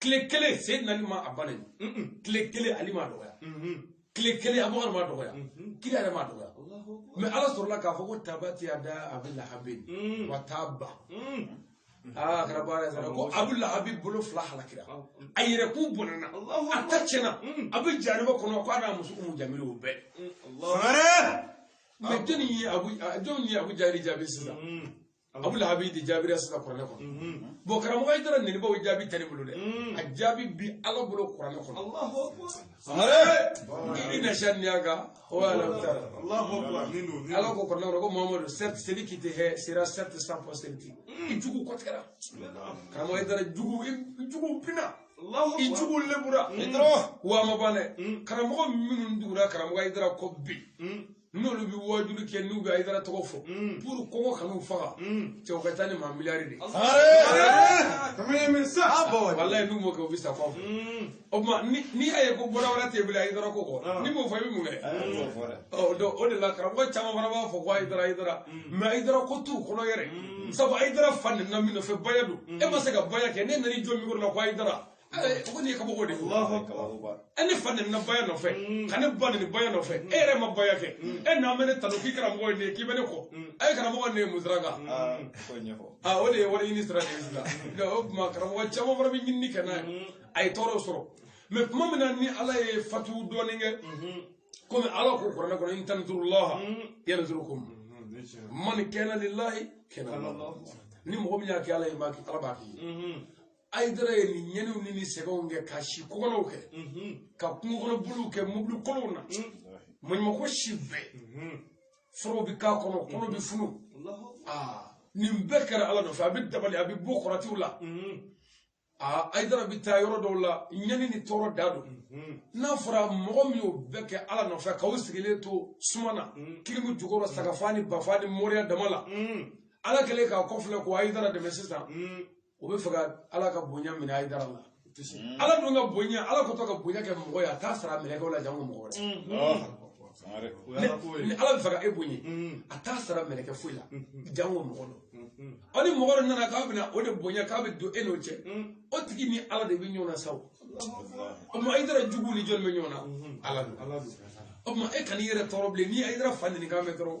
Speaker 3: tile kelen seyidina ali ma a ba nɛni tile kelen ali m'a dɔgɔya tile kelen abubakar m'a dɔgɔya kira yɛrɛ m'a dɔgɔya mais ala sɔrɔla k'a fɔ ko tabati yada abi lahabi wa taba aa kɛra baara ye sara ko abu lahabi bolo fila halakira a yɛrɛkun bɔnɛna a ta tiɲɛna a bɛ jahanama kɔnɔ ko a n'a muso umu jamili o bɛɛ mais jɔnni ye abu jɔnni ye abu jahili jaabi sisan abu lahabi de jaabira sisan kuranɛ kɔnɔ bon karamɔgɔ ayidara nɛnibaw jaabi tɛ ne bolo dɛ a jaabi bi ala bolo kuranɛ kɔnɔ inna saniyaka huwal abtara ala ko kuranɛ kɔnɔ ko mamadu certes celui qui te hait sera certes sans postérité i jugu kɔtigɛra karamɔgɔ ayidara jugu i jugu bina i jugu lebura w'a ma ban dɛ karamɔgɔ minnu tugura karamɔgɔ ayidara kɔ bi n'olu bɛ wajuli kɛ n'u bɛ ayidara tɔgɔ fɔ pour kɔngɔ kan'u faga cɛw ka ca ni maa miliyari de walayi n'u m'o kɛ u bɛ sa kɔ o tuma n'i y'a ye ko baara wɛrɛ t'i bolo ayidara ko kɔ n'i m'o fɔ i bɛ mun kɛ o de la karamɔgɔ caman fana b'a fɔ ko ayidara ayidara mais ayidara ko t'u kɔnɔ yɛrɛ sabu ayidara fa nɛnina min nɔfɛ baya don e ma se ka baya kɛ ne nana i jɔ mikoro la ko ayidara Eh, ko nin ye kabako de ye e ne fa nɛnina baya nɔfɛ ka ne ba nɛni baya nɔfɛ e yɛrɛ ma baya kɛ e n'an bɛ ne tanu k'i karamɔgɔ ye nin ye k'i bɛ ne kɔ a ye karamɔgɔ nin ye mun sira kan aa o de ye wari ɲini sira de ye sisan nka o tuma karamɔgɔ caman fana bɛ ɲinini kɛ n'a ye a ye tɔɔrɔ sɔrɔ mais tuma min na ni ala ye fatu dɔɔnin kɛ komi ala ko kuranɛ kɔnɔ in tansuru laha yansurukum man kana lilahi kana ni mɔgɔ min y'a kɛ ala ye ala b'a k'i ye ayidara ye nin ɲɛniw ni nin sɛgɛnw kɛ ka si kɔgɔnɔw kɛ ka kungo kɔnɔ boliw kɛ mobili kolonw na maɲumako si bɛɛ forow bɛ k'a kɔnɔ kolo bɛ funu nin bɛɛ kɛra ala nɔfɛ a bɛ dabali a bɛ bɔ kɔrɔtiw la aa ayidara bɛ taa yɔrɔ dɔw la ɲɛni ni tɔɔrɔ da don n'a fɔra mɔgɔ min y'o bɛɛ kɛ ala nɔfɛ k'aw sigilen to suma na clim jukɔrɔ sagafa ni bafa ni moriya dama la ala kɛlen k'a kɔfilɛ ko ayidara dɛmɛ sisan o bɛ fɛ ka ala ka bonya minɛ Haidara la ala dun ka bonya ala kɛtɔ ka bonya kɛ mɔgɔ ye a t'a sara mɛlɛkɛ la janko mɔgɔ wɛrɛ ni ala bɛ fɛ ka e bonya a t'a sara mɛlɛkɛ foyi la janko mɔgɔ dɔ aw ni mɔgɔ dɔ nana k'a bɛna o de bonya k'a bɛ don e n'o cɛ o tigi ni ala de bɛ ɲɔgɔn na sa o tuma Haidara jugu ni jɔn bɛ ɲɔgɔn na ala don o tuma e kan'i yɛrɛ tɔɔrɔ bilen ni Haidara fa nenikan mɛn dɔrɔn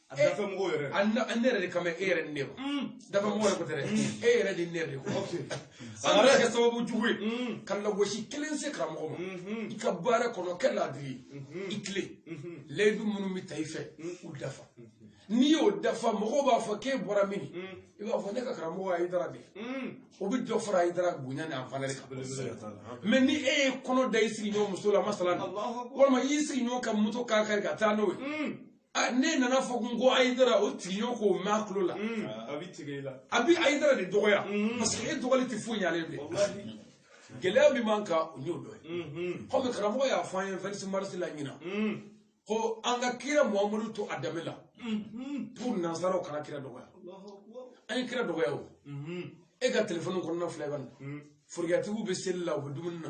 Speaker 3: a eh, dafɛ mɔgɔ yɛrɛ an ne yɛrɛ de kama e yɛrɛ ni ne ma mm. dafɛ mɔgɔ yɛrɛ ko tɛ dɛ mm. e yɛrɛ de ne yɛrɛ de ko an kana kɛ sababu jugu ye mm. ka lagosi kelen se karamɔgɔ ma mm-hmm. i ka baara kɔnɔ kɛ laadiri ye mm-hmm. i tilen mm-hmm. layidu minnu bɛ ta i fɛ u dafa n'i y'o dafa mɔgɔw b'a fɔ k'e bɔra min i b'a fɔ ne ka karamɔgɔ Haidara de o bɛ dɔ fara Haidara bonya ni a valeur kan mais ni e ye kɔnɔ da i sigiɲɔgɔn muso la masala walima i y'i sigiɲɔgɔn ka moto kan kari ka taa n'o ye Ah, n'e nana fɔ kun ko Haidara o tigi y'o ko mɛn a tulo la mm. ah, a bɛ tigɛ i la a bɛ Haidara de dɔgɔya mm-hmm. parce que e dɔgɔli tɛ foyi ɲalen bilen gɛlɛya min b'an kan o y'o dɔ ye mm-hmm. kɔmi karamɔgɔ y'a fɔ an ye vingt-six mars la ɲinan mm. ko an ka kira muhamadu to a danbe la mm-hmm. pour nansaraw kana kira dɔgɔya an ye kira dɔgɔya o e ka telefɔni kɔnɔna filɛ ka na forokiyatigiw bɛ seli la u bɛ dumuni na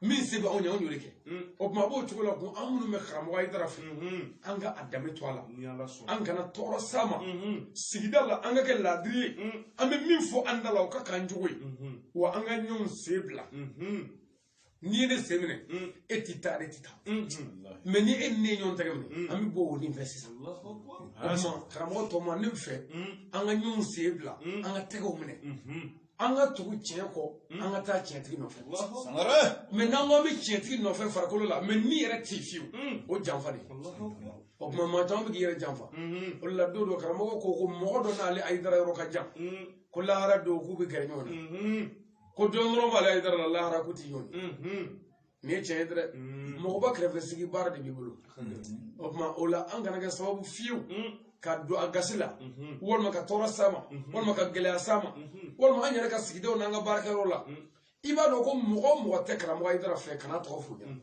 Speaker 3: min se b'anw ye anw y'o de kɛ o tuma a b'o cogo la ko an minnu bɛ karamɔgɔ Haidara fɛ an ka a danbe to a la an kana tɔɔrɔ s'a ma sigida la an ka kɛ laadiri ye an bɛ min fɔ an da la o ka k'an cogo ye wa an ka ɲɔgɔn sen bila n'i ye ne sen minɛ e tɛ taa ne tɛ taa mais ni e ni ne ye ɲɔgɔn tɛgɛ minɛ an bɛ bɔ o nin fɛ sisan o tuma karamɔgɔ tɔ ma ne fɛ an ka ɲɔgɔn sen bila an ka tɛgɛw minɛ an ka tugu tiɲɛ kɔ hmm. an ka taa tiɲɛtigi nɔfɛ mais n'an ko an bɛ tiɲɛtigi nɔfɛ farikolo la mais ni yɛrɛ tɛ fiyewu hmm. o janfa de o tuma maa caman bɛ k'i yɛrɛ janfa hmm. o de la don dɔ karamɔgɔ ko ko mɔgɔ dɔ n'ale Haidara yɔrɔ ka jan ko lahara don k'u bɛ gɛrɛ ɲɔgɔn na ko dɔ nɔrɔlen b'ale Haidara la lahara k'u tɛ ɲɔgɔn ye nin ye tiɲɛ ye dɛ mɔgɔba kɛrɛfɛ sigi baara de b'i bolo o tuma o la an kana kɛ sababu fiyewu ka don a gasi la walima ka tɔɔrɔ s'a ma walima ka gɛlɛya s'a ma walima an yɛrɛ ka sigida n'an ka baarakɛyɔrɔ la i b'a dɔn ko mɔgɔ o mɔgɔ tɛ karamɔgɔ Haidara fɛ kan'a tɔgɔ f'u ɲɛna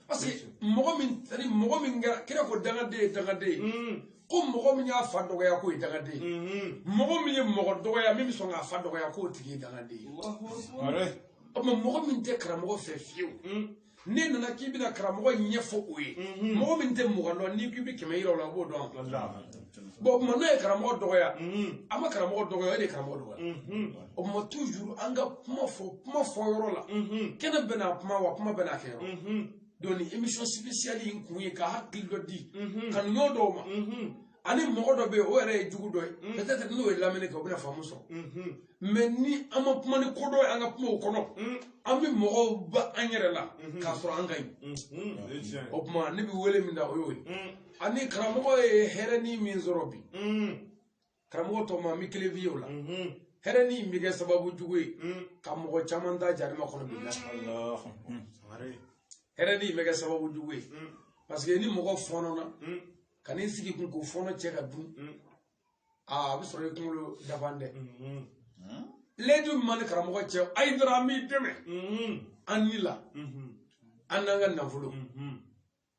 Speaker 3: parce que mɔgɔ min ani mɔgɔ min kɛra kira ko dangaden ye dangaden ye ko mɔgɔ min y'a fa dɔgɔya k'o ye dangaden ye mɔgɔ min ye mɔgɔ dɔgɔya min bɛ sɔn k'a fa dɔgɔya k'o tigi ye dangaden ye o tuma mɔgɔ min tɛ karamɔgɔ fɛ fiyewu n'e nana k'i bɛna karamɔgɔ ɲɛfɔ o ye mɔgɔ min tɛ mugan dɔn n'i k'i bɛ kɛmɛ yira o la o b'o dɔn bon o tuma n'o ye karamɔgɔ dɔgɔya an ma karamɔgɔ dɔgɔya o de ye karamɔgɔ dɔgɔya o tuma toujours an ka kuma fɔ kuma fɔ yɔrɔ la kɛnɛ bɛɛ n'a kuma wa kuma bɛɛ n'a kɛ yɔrɔ donc nin émission spéciale in kun ye ka hakili dɔ di kanuɲɔgɔn dɔw ma ani mɔgɔ dɔ bɛ yen o yɛrɛ ye jugu dɔ ye peut-être n'o ye lamɛnni kɛ o bɛna faamu sɔrɔ mais ni an ma kuma ni kodɔn ye an ka kumaw kɔnɔ mm. an bɛ mɔgɔw ba an yɛrɛ la mm-hmm. k'a sɔrɔ an ka ɲi mm-hmm. o tuma ne bɛ wele min da o y'o ye mm. ani karamɔgɔ ye hɛrɛ ni min sɔrɔ bi mm. karamɔgɔ tɔ ma an bɛ kelen f'i ye o la mm-hmm. hɛrɛ ni bɛ kɛ sababu jugu ye ka mɔgɔ caman ta jarima kɔnɔ bi la hɛrɛ ni bɛ kɛ sababu jugu ye parce que ni mɔgɔ fɔnɔna ka n'i sigi kun k'o fɔnɔ cɛ ka dun aa a bɛ sɔrɔ i kunkolo dafalen tɛ layidu min b'an ni karamɔgɔ cɛ ayidara an b'i dɛmɛ an ni la an n'an ka nafolo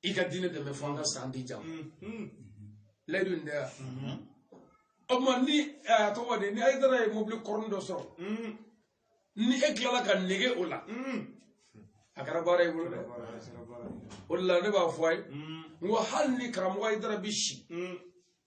Speaker 3: i ka diinɛ dɛmɛ fo an ka sa don jan layidu in tɛ yan o tuma ni ɛ, a tɔgɔ de ni ayidara ye mobili kɔrɔnin dɔ sɔrɔ ni e tilala ka nege o la a kɛra baara y'i bolo dɛ o de la ne b'a fɔ a ye n ko hali ni karamɔgɔ ayidara bi si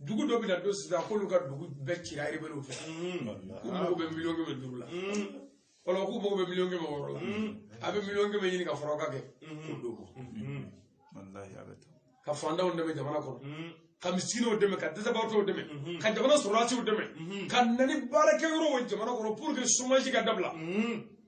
Speaker 3: dugu dɔ bɛna don sisan k'olu ka dugu bɛɛ cira erebelew fɛ k'u mago bɛ miliyɔn kɛmɛ duuru la wala k'u mago bɛ miliyɔn kɛmɛ wɔɔrɔ la a bɛ miliyɔn kɛmɛ ɲini ka fara o kan kɛ k'o d'u ma ka fantanw dɛmɛ jamana kɔnɔ ka misikinɛw dɛmɛ ka dɛsɛbagatɔw dɛmɛ ka jamana sɔrɔdasiw dɛmɛ ka na ni baarakɛyɔrɔw ye jamana kɔnɔ pour que chômage ka dabila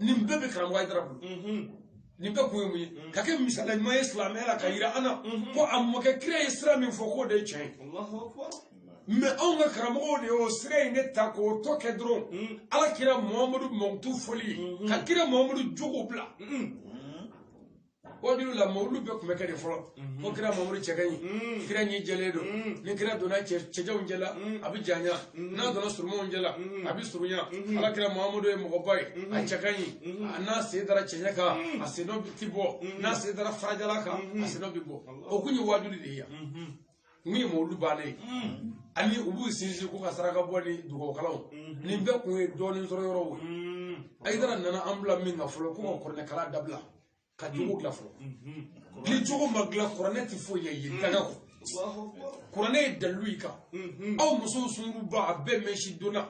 Speaker 3: nin bɛɛ bɛ karamɔgɔ ayidara bolo nin bɛɛ kun ye mun ye ka kɛ misaliya ɲuman ye silamɛya la ka yira an na ko a mɔkɛ kira ye sira min fɔ k'o de ye tiɲɛ ye mais anw ka karamɔgɔw de y'o sira in de ta k'o tɔ kɛ dɔrɔn ala kira mahamadu mankutu fɔli ye ka kira mahamadu jogo bila waajuli la mawulu bɛɛ tun bɛ kɛ de fɔlɔ ko kira mahamadu cɛ ka ɲi kira ɲin jɛlen don ni kira donna cɛ- cɛjanw cɛla a bɛ janya n'a donna surumanw cɛla a bɛ surunya ala kira mahamadu ye mɔgɔba ye a cɛ ka ɲi a n'a sen dara cɛɲɛ kan a sennɔ tɛ bɔ n'a sen dara farajalan kan a sennɔ bɛ bɔ o tun ye waajuli de ye yan min ye mawulu bannen ye ani u b'u sinsin ko ka saraka bɔ ni dugawu kalan nin bɛɛ kun ye dɔɔnin sɔrɔ yɔrɔw ye ayidara nana an bila min kan fɔlɔ ko ka kuranɛkalan dabila ka jogo dilan fɔlɔ ni jogo ma dilan kuranɛ tɛ foyi ɲɛ i ye daga kɔ kuranɛ ye dalilu y'i kan aw musow sungurunba a bɛɛ mɛsi donna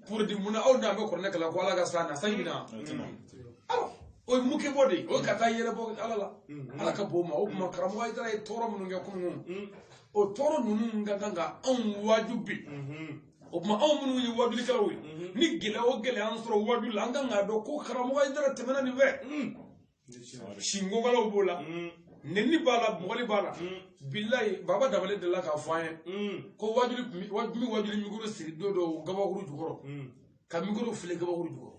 Speaker 3: pour di mun na aw n'a bɛ kuranɛ kalan ko ala ka san na sanji na aw o ye muke bɔ de ye o ye ka taa yɛrɛ bɔ ala la ala k'an bɔ o ma o tuma karamɔgɔ ayidara ye tɔɔrɔ minnu kɛ kunun o tɔɔrɔ ninnu ka kan ka anw waaju bi o tuma anw minnu ye waajulikɛlaw ye ni gɛlɛya o gɛlɛya y'an sɔrɔ waaju la an kan k'a dɔn ko karamɔgɔ ayidara tɛmɛna nin fɛ sinkokalaw b'o la mm. nenni b'a la bugɔli b'a la mm. bilayi baba dabali delila k'a fɔ an ye mm. ko waajuli waajuli waajuli mikoro siri don dɔ gabakuru jukɔrɔ ka mikoro fili gabakuru jukɔrɔ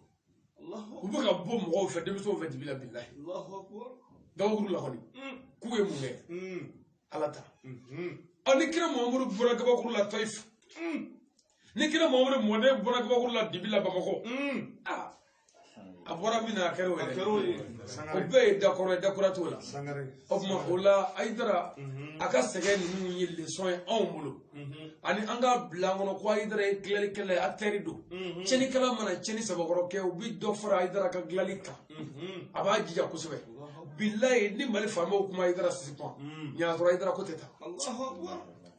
Speaker 3: u bɛ ka bugɔ mɔgɔw fɛ denmisɛnw fɛ dibi la bilayi gabakuru la kɔni k'u ye mun kɛ ala ta mm-hmm. ɔ ni kira mahamadu bugɔra gabakuru la tayifu ni kira mamadu mɔden bonna kabakuru la dibi la bamakɔ aa a bɔra min na a kɛra o yɛrɛ o bɛɛ ye dakɔrɔ ye dakura t'o la o tuma o la ayidara a ka sɛgɛn ninnu ye lesɔn ye anw bolo ani an k'a bila an kɔnɔ ko ayidara ye dilanlikɛla ye akitɛri don cɛnnikɛla mana cɛnni sabakɔrɔ kɛ u bɛ dɔ fara ayidara ka dilanli kan a b'a jija kosɛbɛ bilayi ni mali faamaw kun ma ayidara sisi kun ma ɲa k'a tɔɔrɔ ayidara ko tɛ taa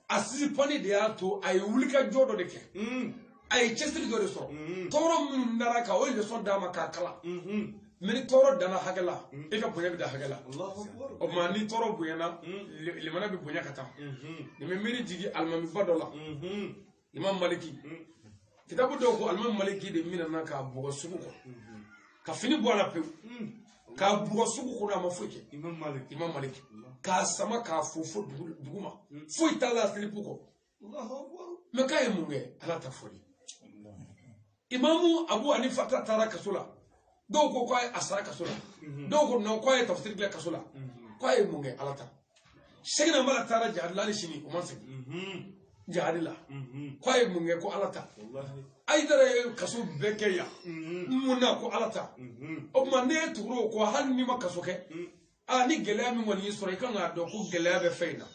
Speaker 3: a sisipani de y'a to a ye wulikajɔ dɔ de kɛ mm. a ye cɛsiri dɔ de sɔrɔ mm-hmm. tɔɔrɔ minnu dara a kan o ye lesɔn d'a ma k'a kalan mm-hmm. mɛ ni tɔɔrɔ danna hakɛ la mm. e ka bonya bɛ dan hakɛ la o tuma ni tɔɔrɔ bonyana mm. limana bɛ bonya ka taa mm-hmm. nin bɛ miiri jigin alimamiba dɔ la imam maliki kitabu dɔw ko alimami maliki de minɛna k'a bugɔ sugu kɔnɔ ka fini bɔ a la pewu k'a bugɔ sugu kɔnɔ a ma foyi kɛ imam malik imam maliki k'a sama k'a fofo dugu ma foyi t'a la silipu kɔ allahu akbar mɛ k'a ye mun kɛ ala ta fɔli imamu abu hanifata taara kaso la dɔw ko k'a yɛrɛ sara kaso la dɔw ko nɔn k'a ye tafsiri kɛ kaso la k'a ye mun kɛ ala ta sɛkina amala taara jihadi la hali sini o ma segin jihadi la k'a ye mun kɛ ko ala ta ayidara ye kaso bɛɛ kɛ yan mun na ko ala ta o tuma ne ye tuguro ko hali n'i ma kaso kɛ aa ni gɛlɛya min kɔni y'i sɔrɔ i kan k'a dɔn ko gɛlɛya bɛ fɛn in na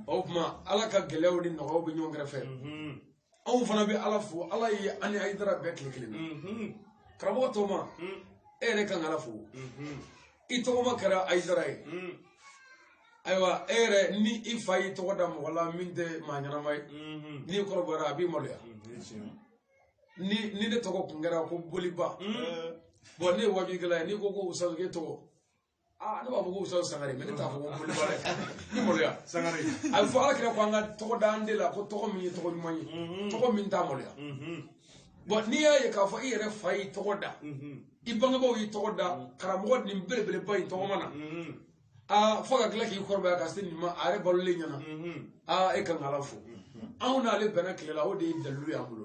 Speaker 3: o tuma ala ka gɛlɛyaw ni nɔgɔyaw bɛ ɲɔgɔn kɛrɛfɛ anw fana bɛ ala fo ala ye an ni ayidara bɛn tile kelen na karamɔgɔ tɔma e yɛrɛ kan ka ala fo i tɔgɔma kɛra ayidara ye ayiwa e yɛrɛ ni i fa y'i tɔgɔ da mɔgɔ la min tɛ maa ɲɛnama ye n'i kɔrɔbayara a b'i maloya ni ni ne tɔgɔ kun kɛra ko boliba bɔn ne ye wajukɛla ye n'i ko ko usazi k'e tɔgɔ aa ne b'a fɔ ko usazi sangare mɛ ne t'a fɔ ko boliba dɛ ni maloya sangare a bɛ
Speaker 1: fɔ ala kira ko
Speaker 3: an ka tɔgɔ da an den la ko tɔgɔ min ye tɔgɔ ɲuman ye tɔgɔ min t'a maloya bɔn n'i y'a ye k'a fɔ i yɛrɛ fa y'i tɔgɔ da i bangebaaw y'i tɔgɔ da karamɔgɔ nin belebeleba in tɔgɔma na aa fo ka tila k'i kɔrɔbaya ka se nin ma a yɛrɛ balolen ɲɛna aa e ka kan ka ala fo anw n'ale bɛnna tile la o de ye dalilu y'an bolo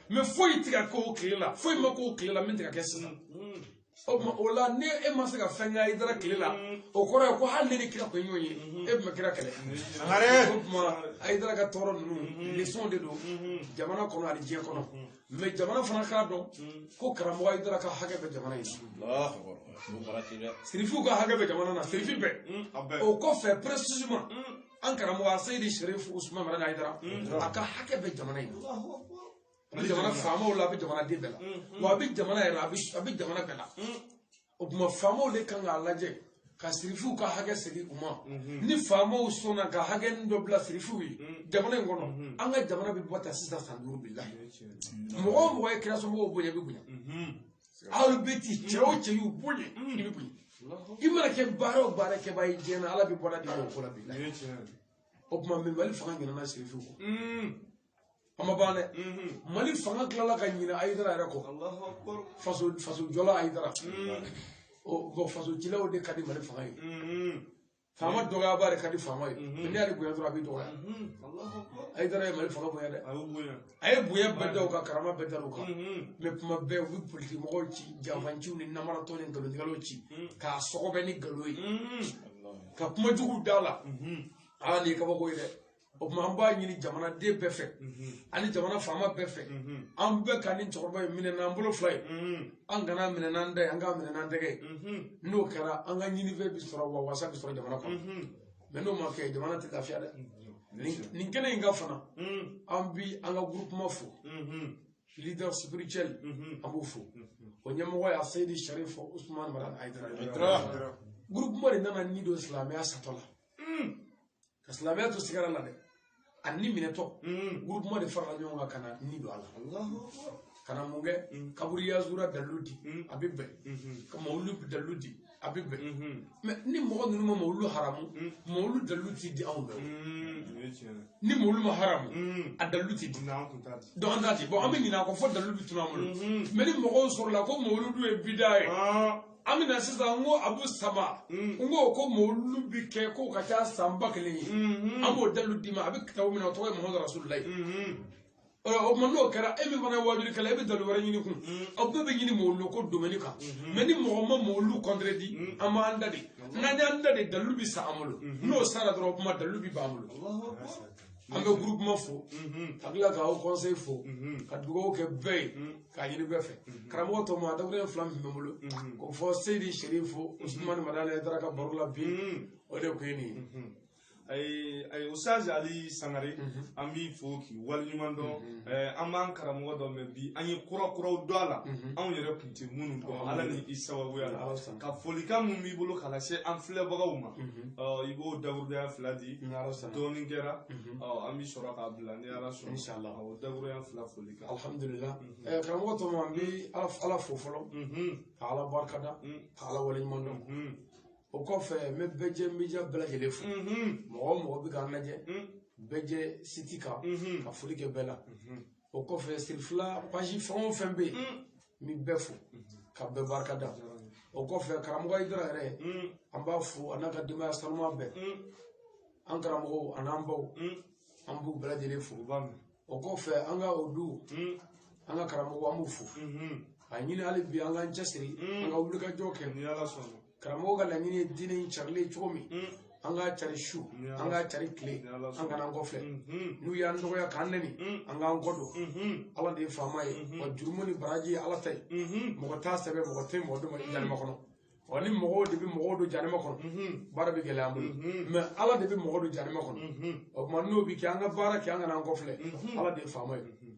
Speaker 3: mɛ foyi tɛ ka k'o tile la foyi ma k'o tile la min tɛ ka kɛ sisan o la ni e ma se ka fɛn kɛ ayidara tile la o kɔrɔ ye ko hali n'e ni kira kun ye ɲɔgɔn ye e tun bɛ kira kɛlɛ o tuma ayidara ka tɔɔrɔ ninnu lesɔn de don jamana kɔnɔ ani diɲɛ kɔnɔ mɛ jamana fana k'a dɔn ko karamɔgɔ ayidara ka hakɛ bɛ jamana ye sirifiw ka hakɛ bɛ jamana na sirifi bɛɛ o kɔfɛ précisément an karamɔgɔ a seyidi sherif usman madani ayidara a ka hakɛ bɛ jamana in na a bɛ jamana faamaw la a bɛ jamana den bɛɛ la wa a bɛ jamana yɛrɛ la a bɛ- a bɛ jamana bɛɛ la o tuma faamaw de kan k'a lajɛ ka sirifuw ka hakɛ segin u ma ni faamaw sɔnna ka hakɛ nin dɔ bila sirifuw ye jamana in kɔnɔ an ka jamana bɛ bɔ ta sisan san duuru bilahi mɔgɔ o mɔgɔ ye kira somɔgɔw bonya i bɛ bonya alu bɛti cɛ o cɛ y'u bonya i bɛ bonya i mana kɛ baara o baara kɛbaa ye diɲɛ na ala bɛ bɔda d'i ma o ko la bilahi o tuma mɛ mali fanga ɲinana sirifuw kɔ a ma ban dɛ mali fanga tilala ka ɲinɛ ayidara yɛrɛ kɔ faso faso jɔla ayidara ɔ bɔn faso cilaw de ka di mali fanga ye faama dɔgɔyabaa de ka di faama ye n'i y'ale bonya dɔrɔn a b'i dɔgɔya ayidara ye mali fanga bonya dɛ a ye bonya bɛɛ da u kan karama bɛɛ da u kan mɛ tuma bɛɛ u bɛ politiki mɔgɔw ci janfanciw ni namaratɔ ni nkalontigɛlaw ci k'a sɔgɔbɛ ni nkalon ye ka kuma jugu d'a la aa nin ye kabako ye dɛ o tuma an b'a ɲini jamanaden bɛɛ fɛ ani jamana faama bɛɛ fɛ an bɛɛ ka nin cɛkɔrɔba in minɛ n'an bolo fila ye an kan'a minɛ n'an da ye an k'a minɛ n'an tɛgɛ ye n'o kɛra an ka ɲinifɛn bɛ sɔrɔ wa wasa bɛ sɔrɔ jamana kɔnɔ mɛ n'o ma kɛ jamana tɛ lafiya dɛ nin kɛnɛ in kan fana an bi an ka gurupuma fo leader spirituel an b'o fo o ɲɛmɔgɔ y'a seyidi sharif usman madani ayidara gurupuma de nana ni don silamɛya satɔ la ka silamɛya to sigara la dɛ a ni minɛtɔ gurupuma de farala ɲɔgɔn kan ka na ni don a la ka na mun kɛ kaburu yazura dalilu di a bɛ bɛn ka mawulu dalilu di a bɛ bɛn mɛ ni mɔgɔ ninnu ma mawulu haramu mawulu dalilu ti di anw bɛɛ ni mawulu ma haramu a dalilu ti di dɔnki an t'a di bɔn an bɛ ɲinɛ a kɔ fo dalilu bɛ tunun an bolo mɛ ni mɔgɔw sɔrɔla ko mawuludu ye bida ye an bɛna sisan n ko abu sama n ko ko mawulu bɛ kɛ k'o ka ca san ba kelen ye an b'o dalilu d'i ma a bɛ kitabu min na o tɔgɔ ye muhamadu rasululayi o tuma n'o kɛra e min fana ye waajulikɛla e bɛ dalilu wɛrɛ ɲini kun aw bɛɛ bɛ ɲini mawulu ko domɛni kan mɛ ni mɔgɔ ma mawulu kɔntɛrɛdi an b'an da de n'an y'an da de dalilu bɛ sa an bolo n'o sara dɔrɔn o tuma dalilu bɛ b'an bolo an bɛ gurupuma fo ka tila ka haut conseil fo ka dugawu kɛ bɛɛ ye k'a ɲini bɛɛ fɛ karamɔgɔ tɔ ma dakuruɲɛ fila min bɛ n bolo k'o fɔ seyidi serifu usumani madani ayidara ka baro la bi o de tun ye nin ye ayi ayi usitazi
Speaker 1: ali sangare an b'i fo k'i waleɲuman dɔn an b'an karamɔgɔ dɔn mɛ bi an ye kura kuraw dɔn a la anw yɛrɛ kun tɛ minnu dɔn ala ni i sababuya la Ala sɔnna. ka folikan min b'i bolo k'a lase an filɛbagaw ma Mhm. ɔ, i b'o dakuruɲɛ fila di Ni Ala sɔnna. dɔɔnin kɛra Mhm. ɔ, an bɛ sɔrɔ k'a bila ni ala sɔnna Inshallah. Awɔ, dakuruɲɛ fila folikan alhamdulillah Mhm.
Speaker 3: Eh, karamɔgɔ tɔma n bɛ ala fo fɔlɔ Mhm, ka ala barika da Mm. ka ala waleɲuman dɔn mhm, o kɔfɛ n bɛ bɛjɛ media bɛɛ lajɛlen fo mhm, mɔgɔ o mɔgɔ bɛ k'an lajɛ mm, bɛjɛ siti kan mhm, ka foli kɛ bɛɛ la mhm. o kɔfɛ sirifila page fɛn o fɛn bɛ yen n bɛ bɛɛ fo ka bɛɛ barika da o kɔfɛ karamɔgɔ Hayidara yɛrɛ an b'a fo a n'a ka denbaya sanuma bɛɛ an karamɔgɔw a n'an baw an b'u bɛɛ lajɛlen fo o kɔfɛ an ka o du an ka karamɔgɔw an b'u fo a ɲini hali bi an k'an cɛsiri an ka wulikajɔ kɛ karamɔgɔ ka laɲini ye diinɛ in carili ye cogo min an k'a cari su an k'a cari tile an kana an kɔfilɛ n'u y'an dɔgɔya k'an nɛni an k'an kɔ don ala de ye faama ye wa jurumu ni baraji ye ala ta ye mɔgɔ t'a sɛbɛn mɔgɔ tɛ mɔgɔ don jahanama kɔnɔ wa ni mɔgɔw de bɛ mɔgɔw don jahanama kɔnɔ baara bɛ gɛlɛya an bolo mɛ ala de bɛ mɔgɔ don jahanama kɔnɔ o tuma n'o bɛ kɛ an ka baara kɛ an kana an kɔfilɛ ala de ye faama ye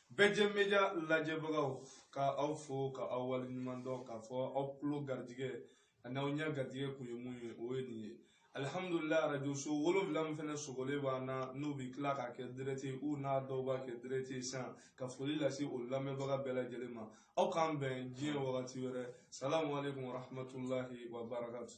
Speaker 1: bɛjɛ media lajɛbagaw ka aw fo ka aw waleɲuman dɔn k'a fɔ aw tulo garijɛgɛ ani aw ɲɛ garijɛgɛ kun ye mun ye o ye nin ye alihamdulila arajoso wolonwula min fana sogolen b'an na n'u bɛ tila k'a kɛ dirɛti u n'a dɔw b'a kɛ dirɛti san ka foli lase o lamɛnbaga bɛɛ lajɛlen ma aw k'an bɛn diɲɛ wagati wɛrɛ salamu aleykum warahmatulahi wabarakatu